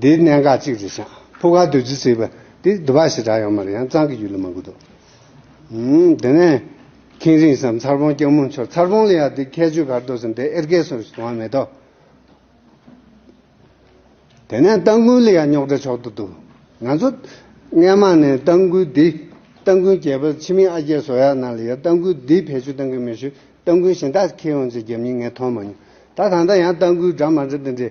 དེའི་གནད་འགག་གཅིག་རེད་ཤག་ཕུ་ག་བདུད་རྩི་ཟེར་བ་དེ་དུ་བ་ཞེ་དྲག་ཡོང་མ་རེད་ཡང་གཙང་གི་ཡུལ་ལ་མ་གུ་དོ། དེ་ནས་ཁེང་རིང་སམ་མཚར་བོང་སྐྱ་མུར་མཆོག་མཚར་བོང་ལ་ཡག་དེ་ཁྱད་ཆོས་གར་འདོགས་སམ་དེ་ཨེར་གས་སོ་ཞེས་དོང་བ་མེད་དོ། དེ་ནས་སྟ་འགུལ་ལ་ཡག་རྙོག་དྲ་ཆོག་ཏུ་འདུག་ང་ཚོ་སྔན་མ་ནས་སྟ་འགུལ་འདི་སྟ་འགུལ་རྒྱལ་པོ་ཕྱི་མི་ཨ་རྒྱས་བཟོ་ཡག་གནང་ལ་ཡག་སྟ་འགུལ་འདི་བེད་སྤྱོད་གཏང་གི་མེད་ཞུ་སྟ་འགུལ་གཞན་དག་ཁེ་ཡོང་ཚེ་རྒྱབ་མྱི་ངས་མཐོང་མ་མྱོང་ད་ད་ལྟ་ཡང་སྟ་འགུལ་འདྲ་མ་འདྲ་དེ་འདྲའི།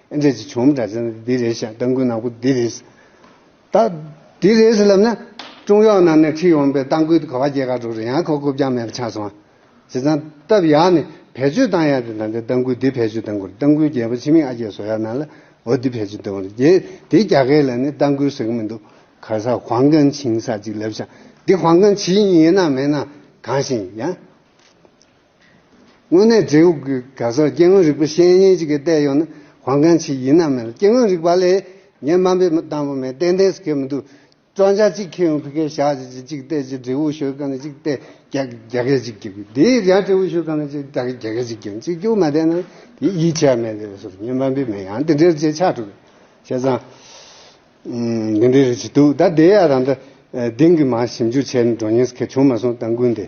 ཨེ་འདྲས་ཀྱི་བྱུང་བུམ་འདྲ་ཚན་ནི་འདི་རེད་ཤག་སྟ་འགུལ་ནང་པོ་འདི་རེད། ད། འདི་རེད་ཟེར་ལབ་ན། ཀྲུང་ཡོག་ནང་ནས་ཁྲིད་ཡོང་པའི་སྟ་འགུལ་དེ་གོ་བ་བརྒྱད་ག་དྲུག་རེད་ཡང་ཁོ་རྐུབ་རྐྱང་མེད་པ་ཆགས་སོང། བྱས་ཙང། སྟབས་ཡག་ནི། བེད་སྤྱོད་བཏང་ཡག་དེ་ད་ལྟའི་སྟ་འགུལ་འདི་བེད་སྤྱོད་བཏང་དགོས་རེད་སྟ་འགུལ་རྒྱལ་པོ་ཕྱི་མིག་ཨ་རྒྱས་བཟོ་ཡག་ནང་ལ་འོ་འདི་བེད་སྤྱོད་བཏང་བ་རེད་རྒྱལ་དེ་རྒྱ་སྐད་ལ་ནི་སྟ་འགུལ་ཟེར་གི་མི་འདུག་ག་ས་ཧོང་ཀན་ཆིང་ས་ཅིག་ལབ་ཤག་འདི་ཧོང་ཀན་ཆིང་ཡིན་ནམ་མིན་ནམ་གང་ཞིག་ཡིན་ཡང། དངོས་གནས་འབྲེལ་ཡོད་ཀྱི་ག་ས་སྐྱེ་དངོས་རིག་པ་བཤེས་གཉེན་ཅིག་གིས་བལྟས་ཡོང་ན་དབང་མཁན་ཆེ་ཡིན་ནམ་མེད་ལ་སྐྱེ་དངོས་རིག་པ་ལས་ངས་སྨྲ་འབེབས་བཏང་པ་མེད་ཏན་ཏན་སུ་ཁེལ་མི་འདུག་བཙོན་ཆ་གཅིག་ཁེལ་ཡོང་ཕི་ཁེ་བཞག་ཅིག་ཅིག་ཅིག་བལྟས་ཅིག་འབྲེལ་བོ་ཤོད་ག་ནས་ཅིག་བལྟས་རྒྱ་རྒྱ་སྐད་ཅིག་རྒྱག་གི་དེའི་རྒྱ་འབྲེལ་བོ་ཤོད་ག་ནས་ཅིག་རྒྱ་རྒྱ་སྐད་ཅིག་རྒྱག་གཅིག་རྒྱུགས་མ་བསྡད་ན་དེ་ཡིད་ཆེས་མེད་ཟེར་བ་སོགས་ངས་སྨྲ་འབེབས་མེད་ཡང་དེ་འདྲའི་རྗེས་ཆགས་འགྲོ་གི་བྱས་ཙང་འདི་འདྲའི་རེ་བྱེད་འདུག་ད་དེ་ཡ་རང་ད་དེང་གི་མ་ཞིབ་འཇུག་བྱས་ནས་འགྲོ་ཉེན་སུ་ཁེལ་བྱུང་མ་སོང་ད་འགུལ་འདི།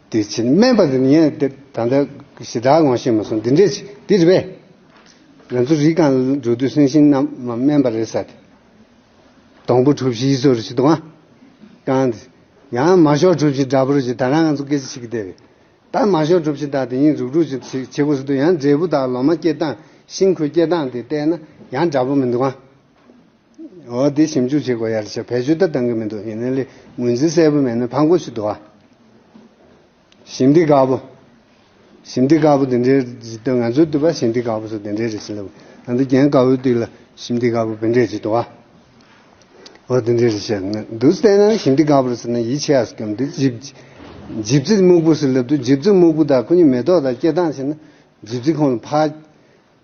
དེ་བྱིན་སྨན་པ་འདི་ངས་ད་ལྟ་གཞི་བདག་ངོ་ཤེས་མ་སོང་འདི་འདྲས་ཅི་འདི་རེད་པས། ང་ཚོ་རིགས་གང་འགྲོ་དུས་སེང་ཤིང་རྣམས་མ་སྨན་པ་རེད་ས་དེ། སྡོང་པོ་གྲུ་བཞིའི་ཟོར་ཞིག་དུའང་བཀང་སྟེ། ཡང་མ་ཞོག་གྲུ་བཞི་འདྲ་པོར་ཞིག་ད་རང་ང་ཚོ་སྐད་ཆ་བྱེད་ཀྱི་བསྡད་པས། ད་མ་ཞོག་གྲུ་བཞི་དག་དེ་གཉིས་རུག་རུག་ཅིག་བྱེད་དགོས་ས་དུས་ཡང་འབྲས་བུ་དག་ལོ་མ་སྐྱེ་སྟངས་ཤིང་ཁུ་སྐྱེ་སྟངས་དེ་བལྟས་ན་ཡང་འདྲ་པོ་མི་འདུག་ཨང། འོ་དེ་ཞིབ་འཇུག་བྱེད་དགོས་ཡ་རེད་ཤག་བེད་སྤྱོད་ད་གཏང་གི་མི་འདུག་ཡིན་ན་ལས་ངོས་འཛིན་གསལ་པོ་མེད་ན་ཕངས་པོ་ཞིག་འདུག་ཨ། ཞིབ་འདི་དགའ་པོ། ཞིབ་འདི་དགའ་པོ་དེ་འདྲའི་ཇི་ཏོ་ང་ཚོའི་བསྟུད་པ་ཞིབ་འདི་དགའ་པོ་སོགས་དེ་འདྲའི་རེད་ཤི་ལབ་ཨ་འདི་རྒྱན་དགའ་བོའི་སྟེགས་ལ་ཞིབ་འདི་དགའ་པོ་བེད་འབྲས་ཇི་ཏོ་ཨ། འོ་དེ་འདྲའི་རེད་ཤག་ང་འདུག་བལྟས་ན་ཞིབ་འདི་དགའ་པོར་ཟེར་ན་ཡིད་ཆེས་ཨ་སྐྱོམ་འདི་ཇིབ་ཇིབ་ཚིག་སྨུག་པོ་ཟེར་ལབ་དུས་ཇིབ་ཚིག་སྨུག་པོ་དག་ཁོ་གཉིས་མེ་ཏོག་དང་སྐྱེ་སྟངས་བྱས་ན་ཇིབ་ཚིག་ཁོང་ལ་འཕགས།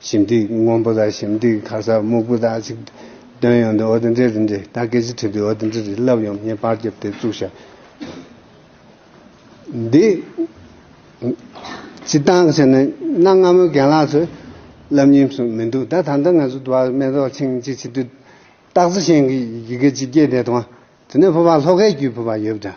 ཞིམ་ཐིག་སྔོན་པོ་དང་ཞིམ་ཐིག་ཁ་སར་སྨུག་པོ་དག་ཅིག། བཏོན་ཡོང་དུ་ཨོ་ཏི་འདྲེ་རི་འདྲེ་ད་སྐད་ཅིག་ཁྲིད་དུས་ཨོ་ཏི་འདྲེ་རི་བསླབ་ཡོང་ངས་པར་རྒྱབ་དེ་བཙུགས་ཤག། འདི། སྤྱི་བཏང་བྱས་ན་གནའ་སྔ་མོའི་རྒན་ལགས་ཚོས། བསླབ་ཉེས་སུ་མི་འདུག་ད་ད་ལྟ་ང་ཚོ་དུ་བ་མེ་ཏོག་ཆིངས་ཅིག་བྱེད་དུས། སྟག་རྩེ་ཞེན་གྱི་ཡི་གེ་གཅིག་སྐྱེས་དེ་དང། དེ་ནས་ཕུ་བ་ལྷོ་ཁའི་རྒྱུད་ཕུ་བ་ཡོད་པ་འདྲ།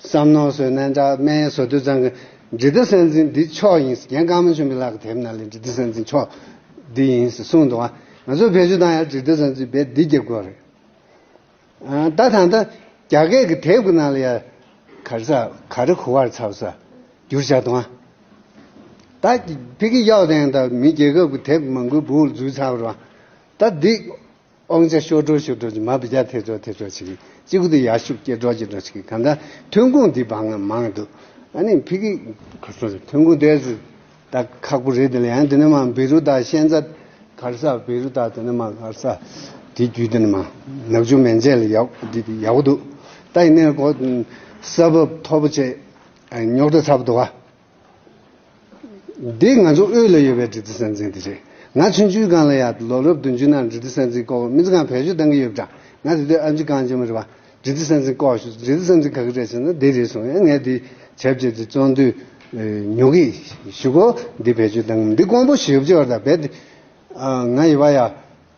བསམ་ནོར་བཟོས་ན་འདྲ་སྨན་བཟོ་དུད་ཚང་གི་འབྲི་ཏི་སྲན་འཛིན་འདི་མཆོག་ཡིན་རྒན་བཀའ་མོ་ཆུང་གི་ལག་གི་དེབ་ནང་ལས་འབྲི་ཏི་སྲན་འཛིན་མཆོག་འདི་ཡིན་ཟེར་གསུངས་འདུག་ང་ཚོ་བེད་སྤྱོད་བཏང་ཡང་འབྲི་ཏི་སྲན་འཛིན་རྦད་འདི་རྒྱབ་དགོས་རེད་ད་ད་ད་རྒྱ་སྐད་ཀྱི་དེབ་ཀྱི་ནང་ལ་ཡར་གར་ཚ་ག་རི་གུ་བར་ཚ་བ་ཚ་བསྒྱུར་བྱ་འདུག་ད་ཕི་གི་གཡག་ལྡན་ད་མི་རྒྱལ་ཁབ་ཀྱི་དེབ་མང་པོའི་བུ་འུར་འཛུལ་ཚ་བར་ད་འདི། སྤང་བྱ་ཤོར་གྲོགས་ཤོར་གྲོགས་ཀྱི་མ་བུ་རྒྱ་ཐེ་གྲོགས་ཐེ་གྲོགས་ཆིག་གཅིག་པུ་དུ་ཡར་ཤུགས་སྐྱེད་གྲོགས་སྐྱེད་གྲོགས་ཆིག་གམ་ད་ཐོན་ཁུངས་འདི་བག་ངན་མང་འདུག་ཨ་ནི་ཕི་གི། ཁ་སང་རེད་ཐོན་ཁུངས་དེ་ད་ཁག་པོ་རེད་དེ་ལ་ཡང་དེ་ནི་མ་བེ་རུ་ད་ཤན་ཚ་གར་ས་བེ་རུ་ད་དེ་ནི་མ་གར་ས་དེ་བརྒྱུད་དེ་ནི་མ་ནག་ཆུ་མན་ཆད་ལ་ཡག་འདི་དེ་ཡག་པོ་འདུག་ད་ཡིན་ནའི་གོ་ས་བབ་མཐོ་པོ་བྱས་ཉོག་དྲ་ཚ་པོ་འདུག་ཨ། འདི་ང་ཚོ་དབུས་ལ་ཡོད་པའི་འབྲི་རྩི་ས་འཛིན་དེ་རེད། ང་མཚོན་ཆུའི་སྒང་ལ་ཡག་ལོ་རབས་བདུན་ཅུ་ནང་འབྲི་རྩི་ས་འཛིན་སྐོར་སྨི་རྩི་སྒང་བེད་སྤྱོད་གཏང་གི་ཡོད་པ་འདྲ་ང་དེ་དུས་ཨ་མཆི་གངས་ཅན་མོ་རེད་པ་འབྲི་རྩི་ས་འཛིན་སྐོར་ཞུས་འབྲི་རྩི་ས་འཛིན་ག་གི་རེད་ཟེར་ན་འདི་རེད་གསུངས་ཡང་ངས་འདི་བྱས་བྱས་ཏེ་བཙོང་དུས་ཉོ་གི་ཞུ་གོ་འདི་བེད་སྤྱོད་གཏང་གི་མི་འདུག་ཀོང་པོ་ཞེས་བྱས་བར་ད་བེད་དེ་ང་ཡི་བ་ཡ་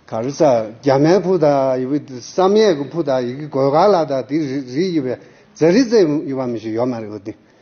ག་རི་ས་རྒྱ་མའི་ཕུ་ད་ཡི་བི་བསམ་ཡས་ཀི་ཕུ་ད་ཡི་གི་གོས་ག་ལ་ད་དེ་རི་ཡི་བའི་རྫ་རི་རྩེ་ཡི་བ་མི་ཞིག་ཡོད་མ་རེད་བ་དེ་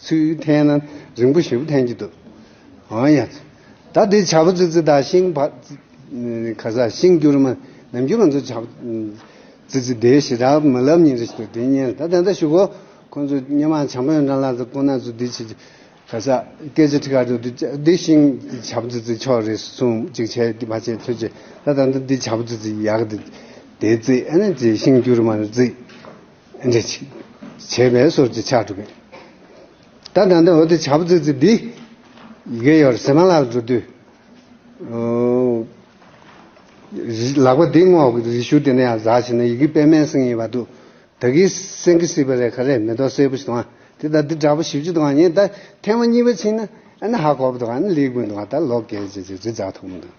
ཚུལ་འཐེན་ན་རིང་པོ་ཞེ་པོ་འཐེན་གྱི་འདུག་ཨང་ཡ། ད་འདི་བྱ་བ་ཙི་ཙི་དག་ཤིང་བ། ག་ས་ཤིང་སྐྱུར་མ་ནམ་རྒྱུན་ང་ཚོ་བྱ་བ་ཙི་ཙི་དེའི་ཞེ་དྲག་མ་ལབ་ཉིན་རེ་ཞིག་ལ་དེ་བསྙལ་ད་དེ་འདྲ་ཞུ་གོ་ཁོ་ཚོ་སྙེ་མ་བྱང་བོན་ཀྲང་ལགས་ཚོ་ཁོ་ན་ཚོ་འདི་བྱེད་ག་ས་སྐད་ཆ་ཁྲི་ཁ་འདུག་འདི་བྱ་འདི་ཤིང་བྱ་བ་ཙི་ཙི་ཕྱོགས་རེ་སུང་ཅིག་བྱས་འདི་བ་བྱས་ཚོད་བྱས་ད་ད་འདི་བྱ་བ་ཙི་ཙི་ཡག་དེ་ཙི་ཨ་ནི་ཅི་ཤིང་སྐྱུར་མ་ནི་ཙི། འདི་ཕྱིས་བྱས་པས་སོར་གྱི་ཆགས་གྲུབ་པས། ད་ད་འདི་འོ་དེ་བྱ་བུ་ཙི་ཙི་འདི། གེ་ཡོར་བསེ་མ་ལག་འགྲོ་དུས། ལག་པ་འདི་སྔོག་གི་རི་ཤུ་དེ་ནས་ཡང་ཟག་བྱས་ན་ཡི་གེ་པད་མའི་སེང་ཡིན་པ་འདུག་ད་གིས་སེང་གེ་སྲིད་པ་རེད་ག་རེད་མེ་ཏོག་སེར་པོ་ཞིག་དང་དེ་ད་འདི་འདྲ་པོ་བཞི་བཅུ་དང་ཡིན་ད་ཐེངས་མ་གཉིས་པ་ཕྱིན་ན་ཨ་ན་ཧ་གོ་བ་འདུག་ཨ་ན་ལེགས་པོ་འདུག་ད་ལོ་གས་ཅེས་ཅེས་རི་འཛག་ཐུབ་མོ་འདུག།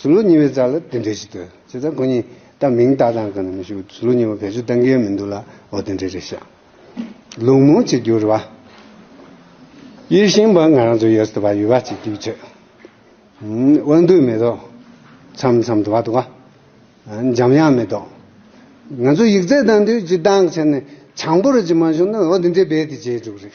ཟུར་ལུགས་གཉིས་པའི་རྩ་ལ་དེ་འདྲས་ཤིག་དོད། བྱས་ཙང་ཁོ་གཉིས་ད་མིང་བཏགས་སྟངས་གང་ནས་མི་ཤེས་པར་ཟུར་ལུགས་གཉིས་པ་བེད་སྤྱོད་གཏང་གིན་མི་འདུག་ལ་འོ་དེ་འདྲས་རེད་བཤད། ལུགས་མོ་ཆེ་འགྱུར་བ། ཡིད་བཞིན་པ་ང་རང་ཚོ་ཡོད་སྲིད་པ་ཡོད་པ་ཅིག་རྒྱུགས་ཆོད། དབང་འདུས་མེ་ཏོག། མཚམས་མཚམས་དུ་བ་དུ་བ། འཇམ་དབྱངས་མེ་ཏོག། ང་ཚོ་ཡིག་རྩལ་གཏང་དུས་སྤྱི་བཏང་ཁྲལ་ནས་བྱང་བུ་རུ་ཅིག་མ་བྱུང་ན་འོ་དེ་འདྲས་རྦད་དེ་བརྗེད་འགྲོ་གི་རེད།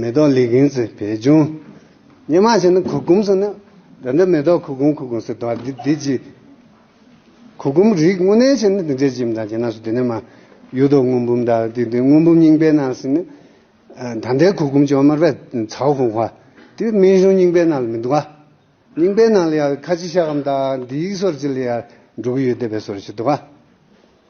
མེ་ཏོག་ལི་གིང་ཚེ་བེད་སྦྱོང། སྙན་མ་བྱས་ན་གུར་གུམ་སོང་ནི། དེ་འདྲ་མེ་ཏོག་གུར་གུམ་གུར་གུམ་ཟེར་དོ། དེ་ཅི། གུར་གུམ་རིགས་དངོས་གནས་བྱས་ན་དེ་འདྲའི་ལྕེ་མི་དང་བྱས་ན་སོ་དེ་ནས་མ། གཡུ་ཐོག་སྔོན་འབུམ་དག་དེ་དེ་སྔོན་འབུམ་རྙིང་པའི་ནང་ཟིན་ནི། ད་ལྟའི་གུར་གུམ་ཅོ་དམར་བས་ཚའོ་ཧུང་བྷ། དེ་སྨན་གཞུང་རྙིང་པའི་ནང་ལ་མི་འདུག་ག། རྙིང་པའི་ནང་ལ་ཡང་ཁ་ཆེ་ཤ་སྐམ་དག་འདི་ཡིག་སོར་ཅི་ལ་ཡང་འགྲོ་གི་ཡོད་བསྡད་པའི་སོར་ཞིག་འདུག་ག།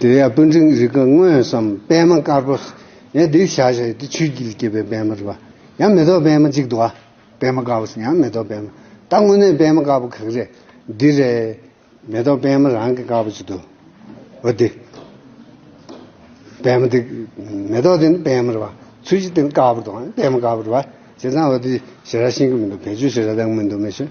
དེ་ཡང་སྤུན་འཕྲིན་རིག་གི་དངོས་སམ་པད་མ་དཀར་པོ། ཡང་དེའི་ཞལ་ཞེས་ཏེ་ཆུའི་དཀྱིལ་སྐྱེས་པའི་པད་མ་རེ་བ། ཡང་མེ་ཏོག་པད་མ་གཅིག་དུ་བ། པད་མ་དཀར་པོ། ཡང་མེ་ཏོག་པད་མ། ད་དངོས་གནས་པད་མ་དཀར་པོ་གང་རེད། འདི་རེད། མེ་ཏོག་པད་མ་རང་གི་དཀར་པོ་གཅིག་དུ་བ་སྟེ། པད་མ་དེ། མེ་ཏོག་དེ་ནི་པད་མ་རེ་བ། ཆུ་བཞི་དེ་ནི་དཀར་པོ་དང་པད་མ་དཀར་པོ་རེ་བ། བྱས་ཙང་འོ་དེ་ཞེ་ར་ཤིང་གི་མི་འདུག་བེད་སྤྱོད་བྱེད་ར་དང་མི་འདུག་མི་ཤེས།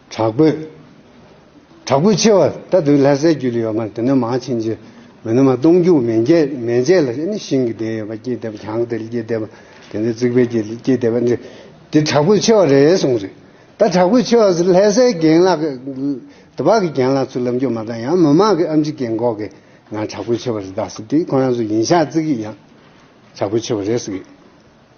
དྲག་པོའི། དྲག་པོའི་ཆེ་བ་ལྟ་དུས་ལྷ་སའི་རྒྱུད་ལ་ཡོད་མར་དེ་ནི་མང་ཕྱིན་ཅི། མི་ནུ་མ་སྟོང་རྒྱུད་མན་ཆད་མན་ཆད་ལ་ནི་ཤིང་གི་སྡེ་ཡོད་པ་སྐྱེས་སྡེ་བ་གྱང་སྡེ་ལ་སྐྱེས་སྡེ་བ་དེ་ནི་རྩིག་པའི་རྒྱུད་ལ་སྐྱེས་སྡེ་བ་འདི་འདི་དྲག་པོའི་ཆེ་བ་རེད་གསུངས་རེད་ད་དྲག་པོའི་ཆེ་བ་ཟེར་ལྷ་སའི་རྒན་ལགས་དེ་བག་གི་རྒན་ལགས་ཚོས་ལབ་འཇོག་མ་གཏང་ཡང་མི་མང་གི་ཨམ་ཆི་ཀེ་འགོག་གི་ང་དྲག་པོའི་ཆེ་བ་རེད་ཟེར་དེ་ཁོ་རང་ཚོ་ཡིན་ཤག་རྩིག་གི་ཡང་དྲག་པོའི་ཆེ་བ་རེད་ཟེར་གི།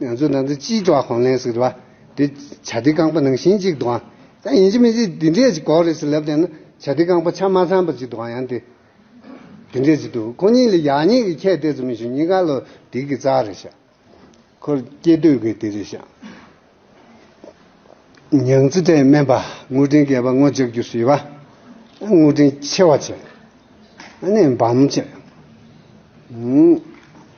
ང་ཚོའི་ནང་དུ་སྤྱིའི་ཀྲོའུ་ཧོང་ལེན་ཟེར་བ་དེ་བྱ་ལྡི་རྐང་པ་ནང་བཞིན་གཅིག་དུའང་ཡང་ཡིན་གྱི་མི་སྲིད་དེ་འདྲས་ཀྱི་གོག་རེད་ཟེར་ལབ་བསྡད་ན་བྱ་ལྡི་རྐང་པ་ཆ་མ་ཚང་པ་ཅིག་དུའང་ཡང་དེ་དེ་འདྲས་ཅིག་འདུག་ཁོ་གཉིས་ལ་ཡག་ཉེས་ཀྱི་ཁྱད་གཏད་ཙམ་མི་ཤེས་གཉིས་ཀ་ལོ་དིག་གི་རྩ་རེད་ཤག་ཁོར་སྐྱེས་སྟོད་གི་དེ་རེད་ཤག། ཉང་རྩེ་གྲལ་སྨན་པ་དངུལ་སྤྲིན་སྐྱེས་པ་དངུལ་ལྕགས་ཀྱུ་བཟོས་པ་དངུལ་སྤྲིན་ཆེ་བ་བྱས་ནས་འབའ་མོ་བྱས།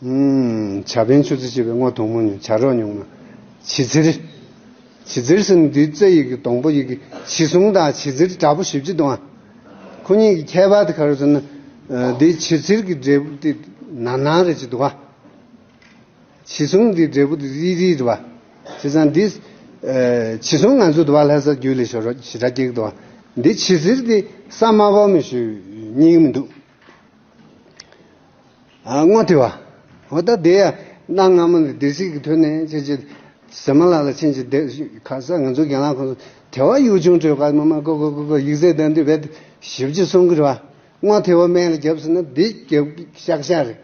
བྱ་བན་ཆུ་རྩི་བྱེད་པའི་སྔོ་དུང་མོ་ཉུང་བྱ་རོག་ཉུང་མ། བྱི་ཚེར། བྱི་ཚེར་སྲིན་བུའི་རྩེ་ཡི་གེ་སྡོང་པོ་ཡི་གེ་བྱི་སྲུང་དང་བྱི་ཚེར་དྲག་པོ་བཞི་བཅུ་དུ་མ། ཁོ་གཉིས་ཀྱི་ཁྱད་པར་དེ་ག་རེ་ཟེར་ན། འདིའི་བྱི་ཚེར་གྱི་འབྲས་བུ་དེ་ནར་ནར་རེ་བྱི་དུ་བ། བྱི་སྲུང་དེའི་འབྲས་བུ་དེ་རིལ་རིལ་རེ་བ། བྱས་ཙང་འདིས། བྱི་སྲུང་ང་ཚོའི་དུ་བ་ལྷ་སར་རྒྱུད་ལས་ཞོར་རོགས་བྱི་དགྲ་སྐྱེགས་དུ་བ། འདིའི་བྱི་ཚེར་དེ་ས་དམའ་བོ་མི་ཞུ་སྙིང་མི་འདུག། སྔོན་དེ་བ། ཧོ་ད་དེ་ཡ། གནའ་སྔ་མོ་ནས་སྡེ་སྲིད་ཀྱི་དོན་ནི་ཅི་ཅི། ཟེར་མ་ལ་ལ་ཕྱིན་ཅི་བདེ། ཁ་ས་ང་ཚོའི་གྱེན་ལངས་ཁོངས་སུ་དེ་བ་ཡུལ་ཆུང་ཁྲོད་ཁ་མ་མ་ཀོ་ཀོ་ཀོ་ཀོ་ཡིག་རྩལ་ལྡན་དུས་བེད་ཞིབ་བྱེད་སོང་གི་རེད་བ། སྔོན་དེ་བ་སྨད་ལ་རྒྱབ་ཟེར་ན་འདི་རྒྱབ་ཤག་ཤག་རེད།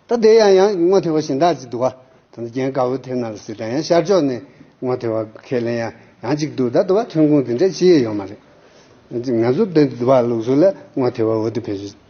ད་དེ་ཡ་ཡང་སྔོན་དེ་བ་གཞན་དག་ཅིག་འདུག་བ། ད་རྒྱན་དཀར་བོ་དེ་ན་ལ་སི་ད་ཡང་ཤར་ཕྱོགས་ནས་སྔོན་དེ་བ་ཁས་ལེན་ཡ་ཡང་ཅིག་འདུག་ད་དུ་བ་ཐོན་ཁུངས་དེ་འདྲ་ཅི་ཡོད་ཡོད་མ་རེད། ང་ཚོ་འདི་འདུག་བ་ལུགས་སྲོལ་ལ་སྔོན་དེ་བ་འོ་དེ་བེད་ཞིབ།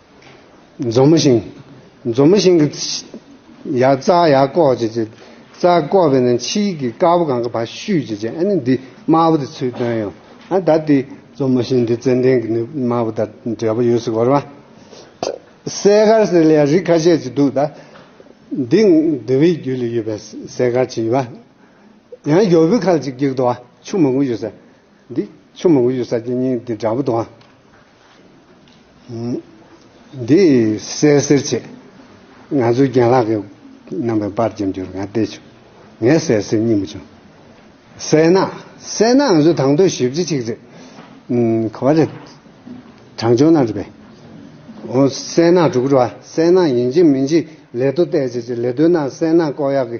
འཛོམས་མ་ཞིང། འཛོམས་མ་ཞིང་གི། ཡ་རྩ་ཡ་བཀོག་ཅེས་བྱ། རྩ་བཀོག་པས་ན་ཕྱིའི་གི་དཀར་པོ་གང་གི་བར་བཤུས་ཅེས་བྱ་ཨ་ནི་འདི་དམར་པོ་དེ་ཚུལ་སྟོན་ཡང་ཨ་དར་ཏེ། འཛོམས་མ་ཞིང་འདི་ཙན་དན་གི་ནི་དམར་པོ་དར་འབྲས་བུ་ཡོད་སྲིད་གོ་རེ་བ། གསས་མཁར་ཟེར་ལ་ཡང་རིགས་ཁ་ཤས་ཅིག་འདུག་ད། འདི་འདི་བའི་རྒྱུད་ལ་ཡོད་པའི་གསས་མཁར་ཅིག་ཡིན་པ། ཡང་ཡོ་བུ་ཁ་ཅིག་སྐྱིག་དོ་བ་ཆུ་མང་པོ་ཡོད་ས། འདི་ཆུ་མང་པོ་ཡོད་ས་སྐྱིག་སྙིང་འདི་འདྲ་པོ་དོ་བ། འདི་གསལ་སེལ་ཆེད། ང་ཚོའི་རྒན་ལགས་ཀྱི་རྣམ་པའི་པར་ཅིག་འབྱོར་ང་བལྟས་བྱུང། ངས་གསལ་སེལ་གཉིས་མ་བྱུང། གསལ་ན་གསལ་ན་ང་ཚོའི་དང་དོད་ཞིབ་ཅིག་ཅིག་རེད། ག་བ་རེད། དྲང་ཅོ་ན་རེད་པས། འོ་གསལ་ན་དྲུག་རེད་བ། གསལ་ན་ཡིན་གཅིག་མིན་གཅིག་ལས་དོ་བལྟས་ཅིག་ཅིག་ལས་དོན་ན་གསལ་ན་ཀོག་ཡག་གི།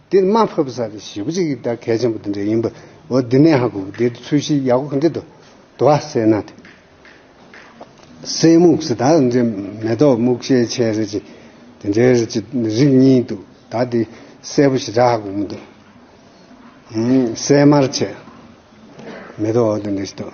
འདིར་དམའ་ཕབ་ས་རེ་ཞིག་གཅིག་གིས་ད་གལ་ཆེན་པོ་འདི་འདྲ་ཡིན་པ་འོ་འདི་ནས་ཧ་གོ་གི་འདི་ཚུལ་བཞིའི་ཡག་གོ་འདི་དུ་དུ་བ་སེ་ན་དེ་སེ་སྨུག་སེ་དག་འདྲེ་མེ་ཏོག་སྨུག་ཤའི་ཆའི་རེ་ཅི་དེ་འདྲའི་རེ་ཅི་རིགས་གཉིས་འདུག་ད་འདི་སེ་པོ་ཞིག་འདྲ་ཧ་གོ་མི་འདུག་སེ་དམར་ཆས་མེ་ཏོག་འོ་འདི་འདྲ་ཞིག་འདུག།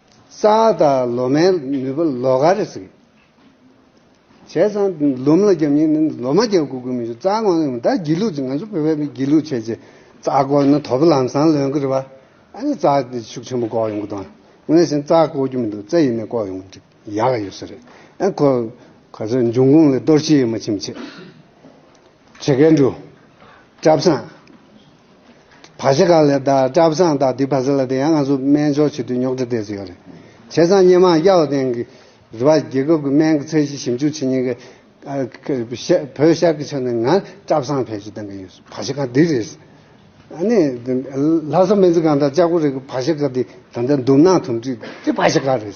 རྩ་བ་དང་ལོ་མའི་ནུས་པ་ལོ་ག་རེ་ཟིག་བྱས་ཙང་ལུམས་ལ་རྒྱབ་ཉིན་ནི་ལོ་མ་རྒྱབ་དགོས་ཀྱི་མི་འགྱུར་རྩ་དགོངས་ནི་མི་ད་སྒྱིད་ལུག་ཅིག་ང་ཚོ་བོད་པའི་མི་སྒྱིད་ལུག་བྱས་རྗེས་རྩ་བསྐོར་ནི་དོ་པོ་ལམ་སང་ལོན་གྱི་རེད་པ་ཨ་ནི་རྩ་དེ་ཤུགས་ཆེན་པོ་བསྐོར་ཡོང་གི་དང་ང་བཞིན་རྩ་བསྐོར་རྒྱུ་མི་འདུག་རྩ་ཡིན་ནས་བསྐོར་ཡོང་གི་འགྲིག་ཡག་ག་ཡོད་ས་རེད་ཨ་ཁོ་ག་ཚོད་འབྱུང་ཁུངས་ལས་གཏོར་ཆེ་ཡོད་མ་ཕྱིན་མ་ཕྱིན་བྱེད་མཁན་འདུག་བཀྲ་བཟང། བ་ཞེ་གང་ལས་དང་བཀྲ་བཟང་དང་དེའི་བ་ཟེར་ལ་དེ་ཡང་ང་ཚོ་སྨན་སྦྱོར་བྱེད་དུས་ཉོག་དྲི་བསྡད་ཟི་ཡོད་རེད། བྱས་ཙང་སྙན་མང་གཡའ་བ་སྟེང་གི་རུ་བ་རྒྱལ་ཁབ་ཀྱི་སྨན་གྱི་ཚད་གཞི་ཞིབ་འཇུག་བྱེད་ཉེན་ཀྱི་བོད་ཤར་གྱི་ཕྱོགས་ནས་ང་བཀྲ་བཟང་བེད་སྤྱོད་གཏང་གི་ཡོད་བ་ཞེ་གང་དེ་རེད། ནི། ལྷ་ས་སྨན་རྩིས་ཁང་དང་ལྕགས་པོ་རི་གི་བ་ཞེ་གང་དེ་ད་ལྟ་འདུམ་ནག་དུམ་བསྒྲིགས་དེ་བ་ཞེ་གང་རེད།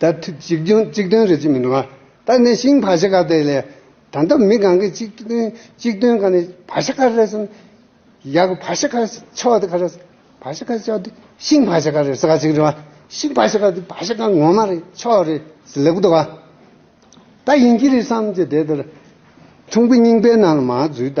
ད་ཐུག་གཅིག་རྒྱུན་གཅིག་དོན་རེད་ཅེས་མི་འགྲོ། ད་ནས་ཤིང་བ་ཤ་ཁ་དེ་ལས་ད་ལྟ་མི་གང་གི་གཅིག་དོན་གཅིག་དོན་ག་ནས་བ་ཤ་ཁ་རེད་བསམ། ཡག་གི་བ་ཤ་ཁ་ཆོག་དེ་ག་རེད་བསམ། བ་ཤ་ཁ་ཆོག་དེ་ཤིང་བ་ཤ་ཁ་རེད་བསམ་ག་ཅིག་རེད། ཤིང་བ་ཤ་ཁ་དེ་བ་ཤ་ཁ་ངོ་མ་རེད་ཆོག་རེད་བསམ་ལེགས་པོ་འདུག་ག་ད་ཡིན་གྱི་རེད་བསམ་གྱི་དེ་ལྟར་ཁྲུང་པོ་རྙིང་པའི་ནང་ལ་མ་འཛུལ་ད་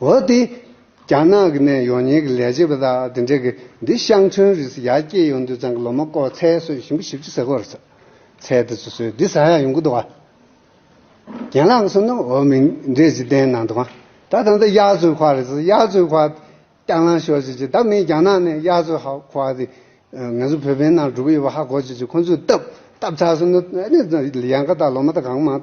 འོ་དེ། རྒྱ་ནག་གི་ནས་ཡོང་ཉེ་གི་ལས་བྱེད་པ་དག་དེ་འདྲས་གི་འདི་ཤང་ཆོན་རིས་ཡག་སྐྱེས་ཡོང་དུས་ཚང་གི་ལོ་མ་བསྐོ་ཚལ་སོད་བཞིན་པ་ཞིབ་ཅི་ཟེར་གོར་ཚལ་དེ་ཚོ་སོད་དེ་ཟ་ཡག་ཡོང་གི་འདུག་བ། རྒན་ལགས་གསུང་ན་འོ་མི་འདྲས་ཅི་བདེན་གནང་འདུག་བ། ད་ད་ད་གཡག་མཚོའི་ཁ་རེད་གཡག་མཚོའི་ཁ། རྐྱང་ལང་ཤོར་ཅིག་ཅིག་ད་མིན་རྒྱ་ནག་ནས་གཡག་མཚོའི་ཧ་ཁ་དེ། ངེད་ཚོ་བོད་པའི་ནང་སྒྲུབ་ཡོད་པ་ཧ་གོ་ཅིག་ཅིག་ཁོང་ཚོས་བཏབ་བཏབ་ཚར་སོང་ན་ཡང་ཁ་ད་ལོ་མ་ད་གང་མང།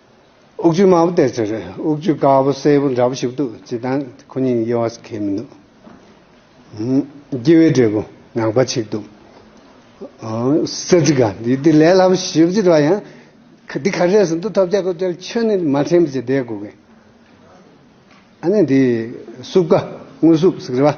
དབུགས་ཆུ་དམར་པོ་སྟེར་ཚེ་རེད་དབུགས་ཆུ་དཀར་པོ་སེར་པོ་འདྲ་པོ་ཞིག་འདུག་བྱེད་སྟངས་ཁོ་གཉིས་དབྱེ་བ་གལ་མི་འདུག་སྐྱེ་བའི་འབྲས་བུ་ནག་པ་ཆིག་འདུག་ས་ཚིག་ག་འདི་འདི་ལས་སླ་པོ་ཞིབ་བརྗོད་བྱེད་པ་ཡང་འདི་ག་རེད་ཟེར་འདུག་ཐོབ་བྱ་གོ་ཐལ་ཆོས་ནི་མ་དྲན་པ་ཅི་བདེ་གོ་གི་ཨ་ནི་འདི་སྲུབས་ཀ་དངོས་སྲུབས་ཟིག་རེད་བ།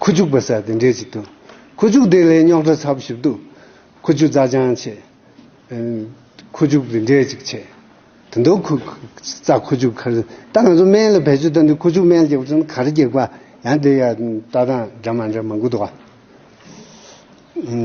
ཁུ་བྱུག་པ་སེར་དེ་འདྲས་ཅིག་འདུག། ཁུ་བྱུག་དེ་ལས་རྙོག་དྲ་ཚབས་ཞིབ་འདུག། ཁུ་བྱུག་རྩ་ཅང་ཆེ། ཁུ་བྱུག་དེ་འདྲས་ཅིག་ཆེ། དེ་འདུག། ཁུ་རྩ་ཁུ་བྱུག་ཁར། ད་ང་ཚོ་སྨན་ལ་བེད་སྤྱོད་བཏང་དུས་ཁུ་བྱུག་སྨན་སྐྱེགས་པ་ཚོ་ནི་གར་སྐྱེགས་པ། ཡང་དེ་ཡང་ལྟ་སྟངས་འདྲ་མ་འདྲ་མང་པོ་འདུག།